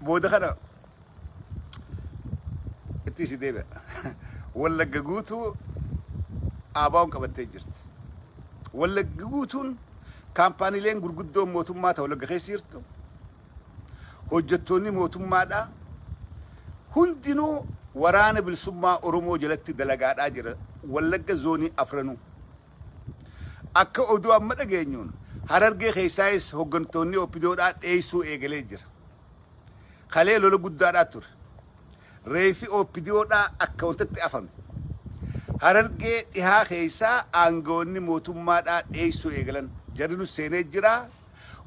Booda kana itti isin deebi'a. Wallagga guutuu ABOn qabattee jirti. Wallagga guutuun kaampaaniileen gurguddoon mootummaa ta'u Wallagga keessa jirtu. Hojjettoonni mootummaadhaa hundinuu waraana bilisummaa Oromoo jalatti dalagaadhaa jira. Wallagga zoonii afranuu. Akka oduu amma dhageenyuun Harargee keessaayis hoggantoonnii Oppidoodhaa dheessuu eegalee jira. Kalee lola guddaadhaa ture. Reeffi Oppidiyoodhaa akka wantatti afame. Harargee dhihaa keessaa aangawoonni mootummaadhaa dheessuu eegalan. Jarri nus seenee jira.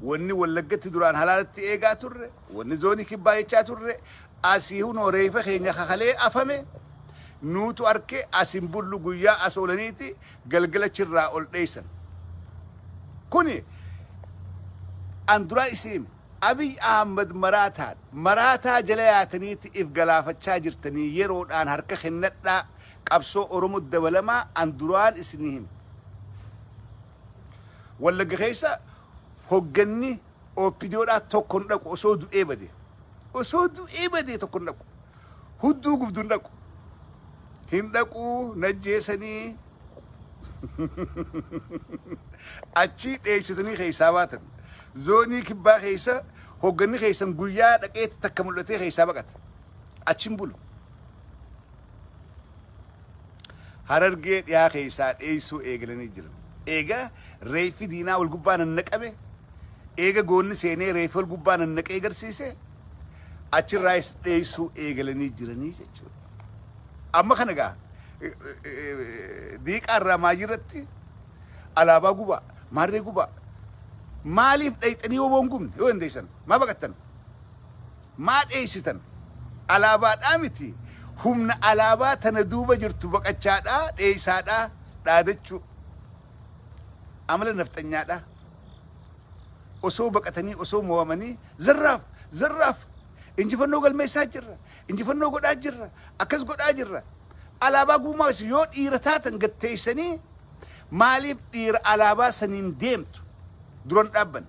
Wanni Wallaggatti duraan halaalatti eegaa turre, wanni Zoonii Kibbaa jechaa turre, asii hunoo reeffa keenya ka kalee afame nuutu arke, as hin bullu guyyaa as oolaniiti galgala achi irraa ol dheessan. Kuni an duraa isin hime. Abiy Ahmad maraataan, maraataa jala yaataniiti if galaafachaa jirtanii yeroodhaan harka kennadhaa qabsoo Oromotti dabalamaa an duraan isinii hime. Wallagga keessa hogganni opdo dhaa tokko hin dhaqu osoo du'ee badee. Osoo du'ee badee tokko hin dhaqu. Hudduu gubdu hin dhaqu. Hin dhaqu najjeesanii achii dheessitanii keessaa baatan. Zoonii kibbaa keessa hogganni keessan guyyaa dhaqeetti takka mul'atee keessaa baqata. Achi hin bulu. Harargee dhiyaa keessaa dheessuu eegalanii jiran. Eega reeffi diinaa wal gubbaa nannaqame, eega goonni seenee reeffa wal gubbaa nannaqee garsiise, achirraayis dheessuu eegalanii jiranii jechuudha. Amma kana egaa diiqaa irraa maayii irratti alaabaa gubaa, maarree gubaa, maaliif dhayxanii woboon gubne yoo dandeessan maa baqattan? Maa dheeysitan? Alaabaadhaa miti, humna alaabaa tana duuba jirtu baqachaadhaa, dheeysaadhaa, dhaadachuu. Amala nafxanyaadhaa. Osoo baqatanii, osoo moo'amanii, zarraaf! Zarraaf! Injifannoo galmeessaa jirra! Injifannoo godhaa jirra! Akkas godhaa jirra! Alaabaa guumaawessu! Yoo dhiira taatan gad teeysanii maaliif dhiira alaabaa saniin deemtu? Dura hin dhaabbanne.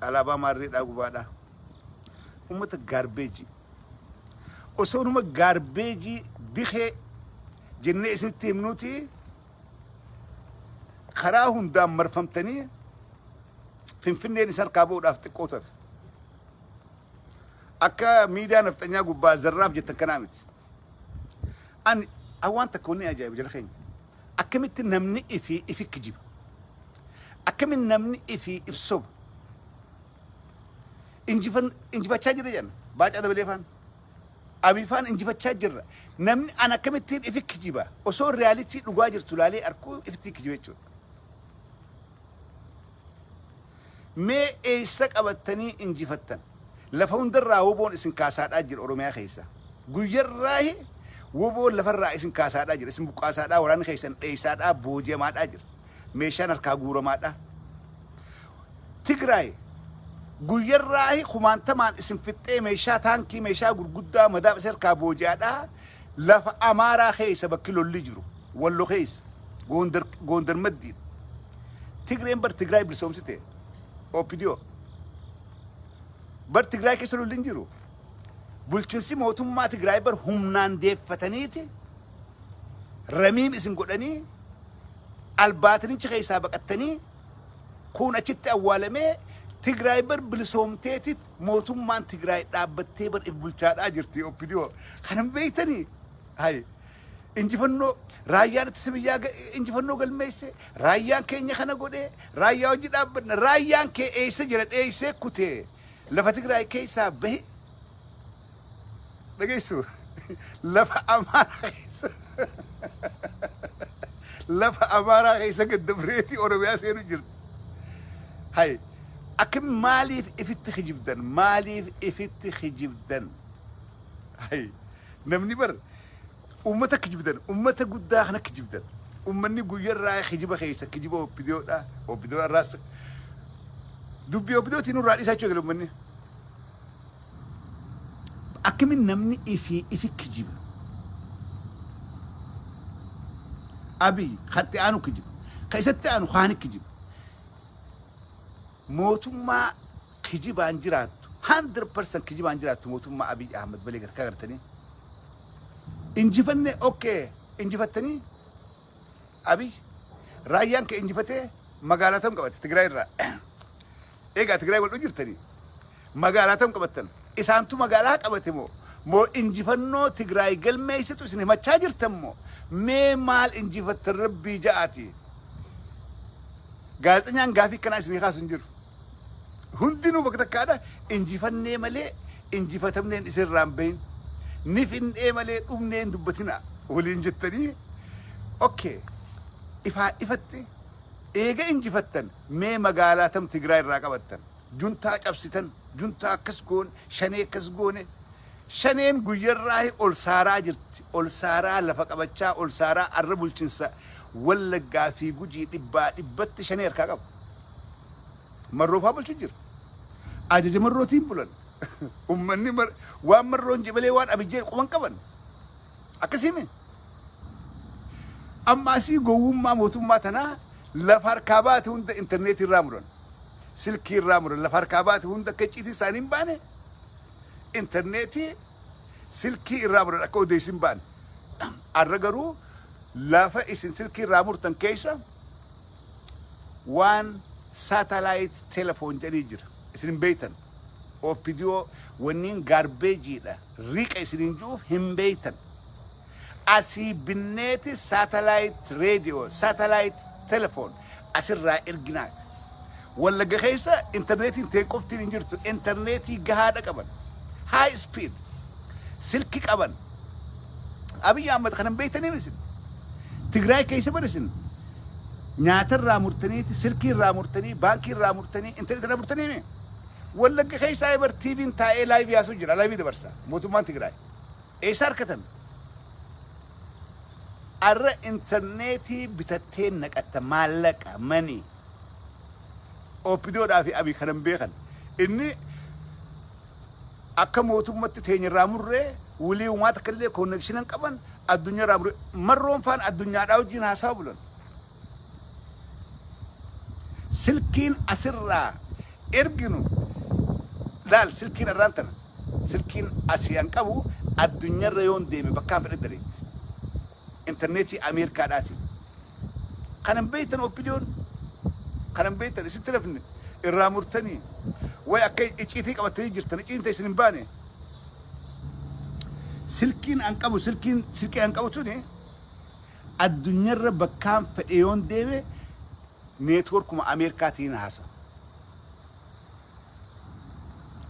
Alaabaa maarreedhaa gubaadhaa. Uummata gaarbeejii. Osoo numa gaarbeejii dikee jennee isinitti himnuuti karaa hundaan marfamtanii finfinneen isa harkaa ba'uudhaaf xiqqoo tafe. Akka miidiyaa nafxanyaa gubbaa zarraaf jettan kanaa miti. Ani an waan takka wanni ajaa'ibu jara keenya akkamitti namni ifi ifi kijiba akkamitti namni ifi if soba injifan injifachaa jira jedhan baacaa dabalee faan abii faan injifachaa jirra namni an akkamittiin ifi kijiba osoo realitii dhugaa jirtu laalee arkuu ifittii kijiba jechuudha Mee eessa qabattanii injifattan? Lafa hundarraa wbo'n isin kaasaadhaa jira Oromiyaa keessaa. Guyyarraahi wbo'n lafarraa isin kaasaadhaa jira. Isin buqqaasaadhaa, waraanni keessan dheessaadhaa, booji'amaadhaa jira. Meeshaan harkaa guuramaadhaa. Tigraay guyyarraahi kumaantamaan isin fixxee meeshaa taankii, meeshaa gurguddaa, madaaf isin harkaa booji'aadhaa. Lafa Amaaraa keessa bakki lolli jiru Wallo keessa, Goondar, Goondar maddiidha. Tigreen bar Tigraay bilisoomsite. OPDO. Bar Tigraay keessa lolli hin jiru. Bulchinsi mootummaa Tigraay bar humnaan deeffataniiti ramiim isin godhanii albaatinicha keessaa baqattanii kun achitti awwaalamee Tigraay bar bilisoomteetit mootummaan Tigraay dhaabbattee bar if bulchaadhaa jirti OPDO. Kanan beektanii? Hayi. Injifannoo Raayyaan Ittisa Biyyaa ga injifannoo galmeesse, Raayyaan keenya kana godhe, Raayyaa wajji dhaabbanna, Raayyaan kee eessa jira dheessee kutee lafa Tigraay keessaa bahe dhageessu lafa Amaaraa keessa lafa Amaaraa keessa gad dabreeti Oromiyaa seenu jirti. Hay akka maaliif ifitti kijibdan maaliif ifitti kijibdan hay Namni bar ummata kijibdan ummata guddaa kana kijibdan ummanni guyyarraa kijiba keessa kijiba opdo dha opdo arraas dubbi opdo tii nurraa dhisaa jechuu egale ummanni akkamiin namni ifi ifi kijiba abiy katti aanu kijiba ka isatti aanu kaani kijiba Mootummaa kijibaan jiraattu 100% kijibaan jiraattu mootummaa Abiy Ahmed malee garkaa gartanii injifanne ok injifattanii Abiy raayyaan kee injifatee magaalaa tam qabate Tigraay irraa eegaa Tigraay wal dhuu jirtanii Magaalaa tam qabattan? Isaantu magaalaa qabate moo? Moo injifannoo Tigraay galmeessitu isin himachaa jirtan moo? Mee maal injifattan rabbii ja'aatii? Gaazexenyaan gaafii akkanaa isinii kaasu hin jiru. Hundinuu bakka takkaadha injifannee malee injifatamneen isin irraa hin bahin. Ni findhee malee dhumnee hin dubbatina waliin jettanii okay ifaa ifatti eega injifattan mee magaalaa tam Tigraay irraa qabattan? Juntaa cabsitan, juntaa akkas goone, shanee akkas goone, shaneen guyyarraahi ol saaraa jirti, ol saaraa lafa qabachaa, ol saaraa arra bulchinsa Wallaggaa fi Gujii dhibbaa dhibbatti shanee harkaa qaba. Marroo faa bulchu jira. Ajaja Marrootiin bulan. Ummanni mar- waan Marroon jedhe malee waan Abiy jedhe quba hin qaban. Akkasii miti. Amma asii gowwummaa mootummaa tanaa lafa harkaa baate hunda intarneetii irraa muran. silkii irraa muran lafa harkaa baate hunda akka icciitii isaanii hin baane intarneetii silkii irraa muran akka odeessi hin baane arra garuu lafa isin silkii irraa murtan keessa waan saatalaayit telefoon jedhanii jira isin hin beeytan opidiyoo wanniin gaarbeejiidha riqa isiniin ji'uuf hin beeytan Asii binneeti satellite radio, satellite telephone asirraa erginaa. Wallagga keessa interneetiin teen qoftiin hin jirtu. Interneetii gahaadha qaban. High speed. Silki qaban. Abiy Ahmed kanan beektaniin isin. Tigraay keessa bar isin nyaata irraa murtaniiti, silkii irraa murtanii, baankii irraa murtanii, interneetii irraa murtanii mee? Wallagga keessaa bar TV'n taa'ee laayivii haasoo jira, laayivii dabarsa mootummaan Tigraay. Eessaa argatan? Arra interneetii bitattee naqatta maallaqa, money. Opdo fi Abiy kana hin beekan. Inni akka mootummatti teenya irraa murree wly umaa takka illee connection hin qaban addunyaa irraa murree marroon faan addunyaadhaa wajjiin haasawa bulan. Silkiin asirraa erginu laal silkiin arraan tana silkiin asii an qabu addunyarra yoon deeme bakkaan fedhe daleetti interneetii ameerkaadhaatiin kan hin beektan oppidiyoon kan hin beektan isitti lafne irraa murtanii way akka icciitii qabattanii jirtan icciitiin ta'e isin hin baane silkiin an qabu silkiin silkii an qabu tuni Addunyarra bakkaan fedhe yoon deeme networkuma Ameerikaatiin haasa.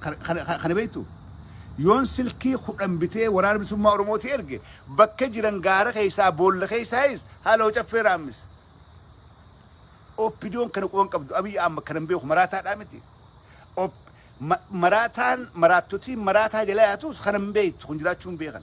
Kana kana beektu? Yoon silkii kudhan bitee waraana bilisummaa Oromootii erge bakka jiran gaara keessaa boolla keessaayis haaloo caffee raammis. OPDOn kana quban qabdu Abiy Ahmad kanan beeku maraataadhaa miti. Op, ma, maraataan maraattotiin maraataa jala yaatuus kanan beektu kun jiraachuu hin beekan.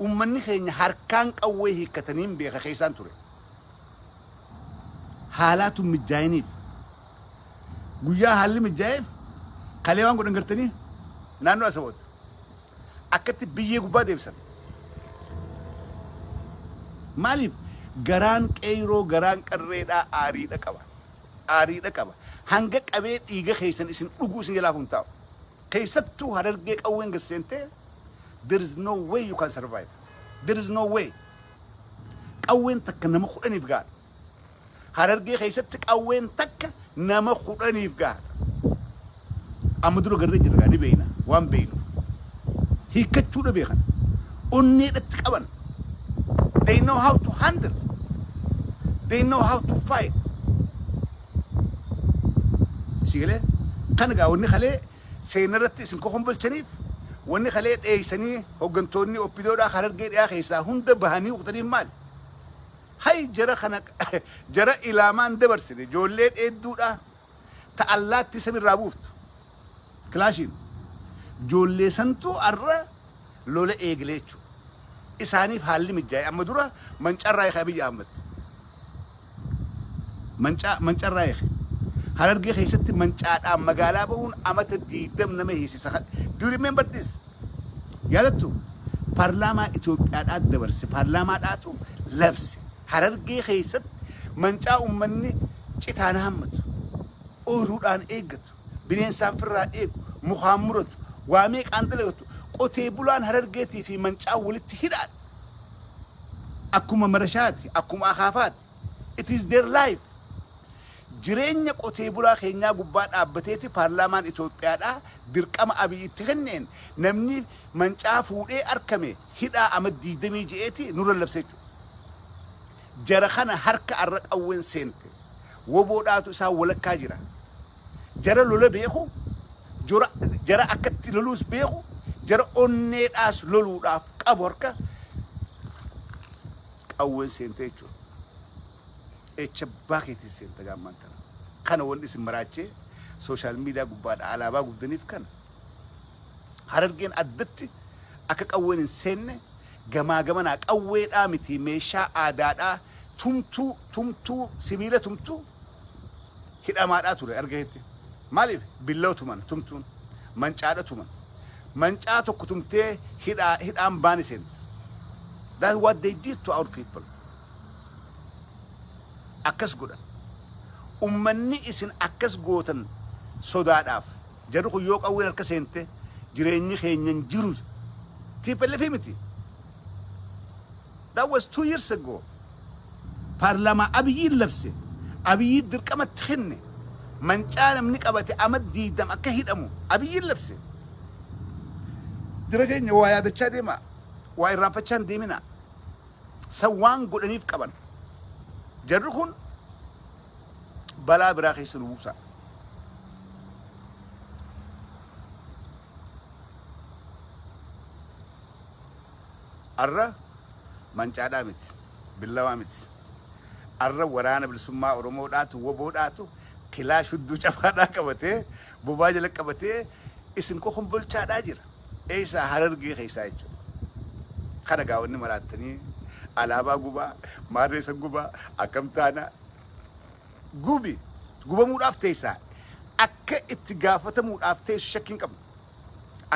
Uummanni keenya harkaan qawwee hiikkataniin beeka keessaan ture. Haalaa tun mijjaa'iniif. Guyyaa haalli mijjaa'eef kalee waan godhan gartanii? Naannoo Asawot. Akkatti biyyee gubbaa deebisan. Maaliif? Garaan qeeyroo garaan qarreedhaa aariidha qaba. Aariidha qaba. Hanga qabee dhiiga keessan isin dhugu isin jalaa hafu hin taa'u. Keessattuu harargee qawween gad seentee there is no way you can survive. There is no way. Qawween takka nama kudhaniif gaadha. Harargee keessatti qawween takka nama kudhaniif gaadha. Amma dura garree jirra gaa ni beeyna waan beeynuuf. Hiikkachuu dhabee kana. Onneedhatti qaban. They know how to handle. They know how to fight. Sii galee? Kan egaa wanni kalee seenna irratti isin kokombolchaniif wanni kalee dheeysanii hoggantoonni oppidoodhaa harargee dhiyaa keessaa hunda bahanii kutaniif maali? Hay jara kana jara ilaamaan dabarsine joollee dheedduudhaa ta allaattii sami irraa buuftu. Kilaashiin joollee santuu arra lola eeglee jechu. Isaaniif haalli mijjaaye amma dura mancarraa eeke Abiy Ahmed. Mancaa mancarraa eeke. Harargee keessatti mancaadhaan magaalaa bahuun amata 20 nama hiisisa. Do you remember this? Yaadattu? Paarlaamaa Itoophiyaadhaa dabarse. Paarlaamaadhaatu labse. Harargee keessatti mancaa ummanni citaan haammatu. Ooyruudhaan eeggatu. bineensaan firraa eegu, mukaan muratu, waa meeqaan dalagatu, qotee bulaan Harargeetii fi Mancaan walitti hidhaadha. Akkuma marashaati, akkuma akaafaati. It is their life. Jireenya qotee bulaa keenyaa gubbaa dhaabbateeti paarlaamaan Itoophiyaadhaa dirqama Abiy itti kenneen namni Mancaa fuudhee arkame hidhaa Amat 26 ti nurra labse jechuudha. Jara kana harka arra qawwen seente wbo dhaatu isaan walakkaa jira. Jara lola beeku, jora jara akka itti loluus beeku, jara onnee dhaas loluudhaaf qabu harka qawwen seente jechuudha. Echa abbaa keetiin seenta gaa ammaan tana. Kana wanni isin maraachee social media gubbaadha alaabaa gubdaniif kana. Harargeen addatti akka qawwen hin seenne gamaa gamanaa qawweedhaa mitii meeshaa aadaadhaa tumtuu tumtuu sibiila tumtuu hidhamaadhaa ture arga keetti maaliif billawa tuman tumtuun mancaadha tuman mancaa tokko tumtee hidhaa hidhaan baani seenta that what they did to our people akkas godhan ummanni isin akkas gootan sodaadhaaf Jarri kun yoo qawween harka seente jireenyi keenya hin jiru. Tplf miti. That was two years ago. Paarlaamaa Abiyyiin labse, Abiyyiin dirqama itti kenne, mancaa namni qabate amat diigdam akka hidhamu Abiyyiin labse. Jara keenya waa yaadachaa deemaa, waa irraanfachaa hin deeminaa. San waan godhaniif qaban. Jarri kun balaa biraa keessa nu buusa. Arra mancaadhaa miti, billawaa miti. Arra waraana bilisummaa Oromoo dhaatu, woboo dhaatu, kilaash hudduu cabaadhaa qabatee, bobaa jala qabatee isin kokombolchaadhaa jira. Eessaa harargee keessaa jechuudha. Kana egaa wanni maraattanii alaabaa gubaa, maarree san gubaa, akkam taana? Gubi! Gubamuudhaaf teessaa. Akka itti gaafatamuudhaaf teessu shakki hin qabnu.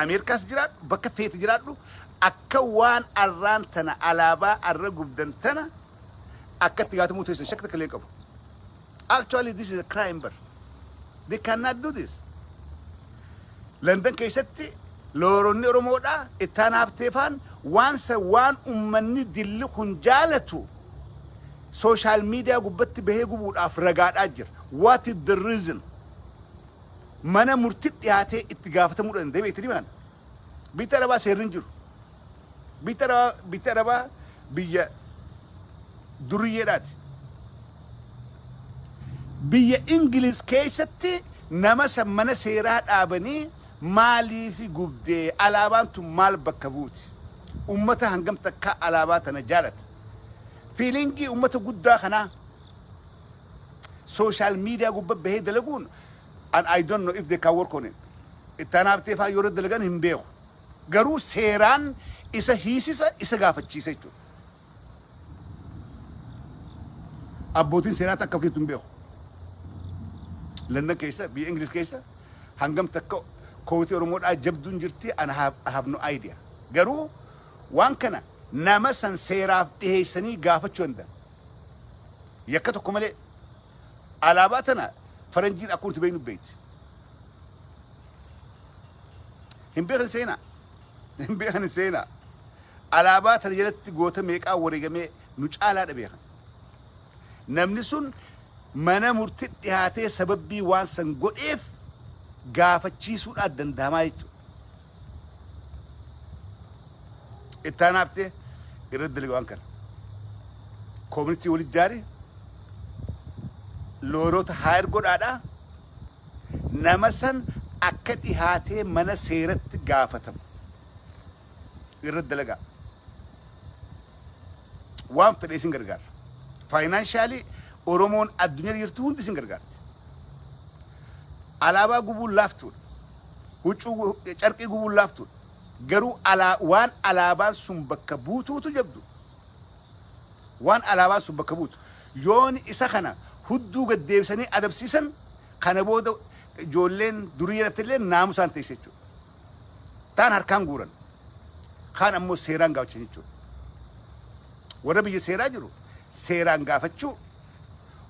Ameerikaas jiraadhu, bakka feete jiraadhu, akka waan arraan tana alaabaa arra gubdan tana akka itti gaafatamuu teessan shakki takka illee hin qabu. Actually this is a crime bar. They cannot do this. London keessatti looyeronni Oromoodha ittaan haabteefaan waan sa waan ummanni dilli kun jaalatu sooshaal miidiyaa gubbatti bahee gubuudhaaf ragaadhaa jira. What is the reason? Mana murti dhiyaatee itti gaafatamuu danda'e beekti dimaan. Bitti Arabaa seerri hin jiru. Bitti Arabaa, bitti Arabaa biyya duriyyeedhaati. Biyya Ingiliz keessatti nama san mana seeraa dhaabanii maaliif gubdee alaabaan tun maal bakka buuti? Ummata hangam takkaa alaabaa tana jaalata? Fiilingii ummata guddaa kanaa sooshaal miidiyaa gubba bahee dalaguun and I don't know if they can work on it Itti aanaa Habtee fa'aa yoo irratti dalagan hin beeku. Garuu seeraan isa hiisisa isa gaafachiisa jechuudha. Abbootiin seeraa takka keessattuu hin beeku. London keessa biyya Ingiliz keessa hangam takka kootii Oromoodhaa jabduun jirti and I have, I have no idea. Garuu waan kana nama san seeraaf dhiheessanii gaafachuu danda'a. Yakka tokko malee Alaabaa tana faranjiin akkuma nuti beeknu beekti. Hin beekan seenaa. Hin beekan seenaa. Alaabaa tana jalatti goota meeqaa wareegamee nu caalaa dha beekan. Namni sun mana murti dhihaatee sababbii waan san godheef gaafachiisuudhaan danda'amaa jechuudha. Ittaanaa Habtee irratti dalage waan kana. Kooministii wal ijaari looyroota haayir godhaadha. Nama san akka dhihaatee mana seeratti gaafatamu irratti dalagaa. Waan fedhe isin gargaara. Faayinaanshaali Oromoon addunyaa jirtu hundi isin gargaarti. Alaabaa gubuun laaftuudha. huccuu carqii gubuun laaftuudha. Garuu alaa waan alaabaan sun bakka buutuutu jabdu. Waan alaabaan sun bakka buutu. Yooni isa kana hudduu gad deebisanii adabsiisan kana booda ijoolleen duriyyeen haftelleen naamusaan teessi jechuudha. Taan harkaan guuran. Kaan ammoo seeraan gaafachan jechuudha. Warra biyya seeraa jiru seeraan gaafachuu,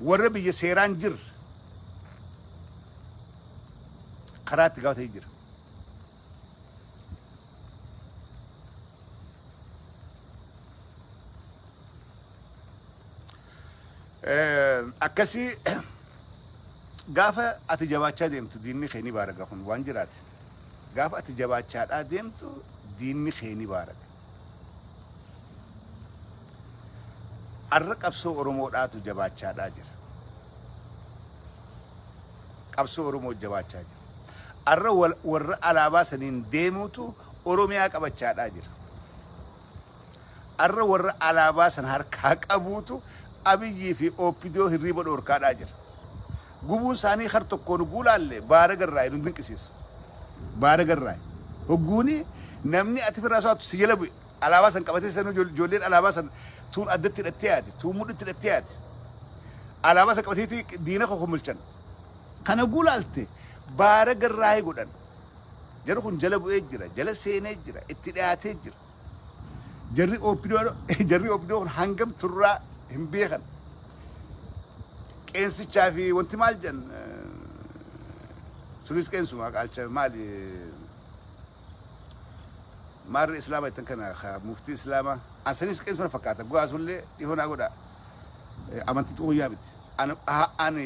warra biyya seeraan jirr. karaa itti gaafatan hin jira. Eh, Akkasii gaafa ati jabaachaa deemtu diinni kee ni baaraga kun waan jiraati. Gaafa ati jabaachaadhaa deemtu diinni kee ni baaraga. Arra qabsoo Oromoo dhaatu jabaachaa dhaa jira. Qabsoo Oromoo jabaachaa jira. Arra warra alaabaa saniin deemuutu Oromiyaa qabachaa dhaa jira. Arra warra alaabaa san harkaa qabuutu Abiyyii fi OPDO hirriiba dhoorkaa dhaa jira. Gubuun saanii kar tokkoon hogguu laalle baaraga irraayi nun dinqisiisu. Baaraga irraayi. Hogguuni namni ati firraa soaattu si jala bu'e alaabaa san qabatee sanuu ijoolleen alaabaa san tuun addatti hidhattee yaati, tuun mudhitti hidhattee yaati. Alaabaa san qabateeti diina kokomolchan. Kana hogguu laalte baaraga irraayi godhan. Jarri kun jala bu'ee jira, jala seenee jira, itti dhiyaatee jira. Jarri opdo jarri opdo kun hangam turraa hin beekan. Qeensichaa fi wanti maal jedhan sunis qeensuma qaalcha maali maarri islaama ittan kana ka muftii islaama an sanis qeensuma fakkaata go'aa sullee dhihoo naa godha amantii xuquyyaa miti. Ani ani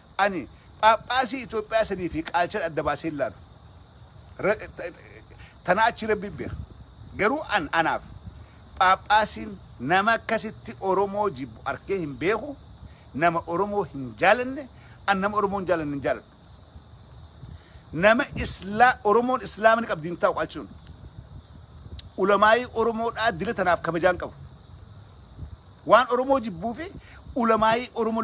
Ani phaaphaasii Itoophiyaa sanii fi qaalchan adda baasee hin laalu. Tanaa achii Rabbiin beeka. Garuu an anaaf phaaphaasiin nama akkasitti Oromoo jibbu arkee hin beeku, nama Oromoo hin jaalanne, an nama Oromoo hin jaalanne hin jaaladhu. Nama Islaa, Oromoon Islaama ni qabdi hin taa'u qaalchi sun. Ulamaa'ii Oromoodhaa dila tanaaf kabajaa hin qabu. Waan Oromoo jibbuu fi ulamaa'ii Oromoo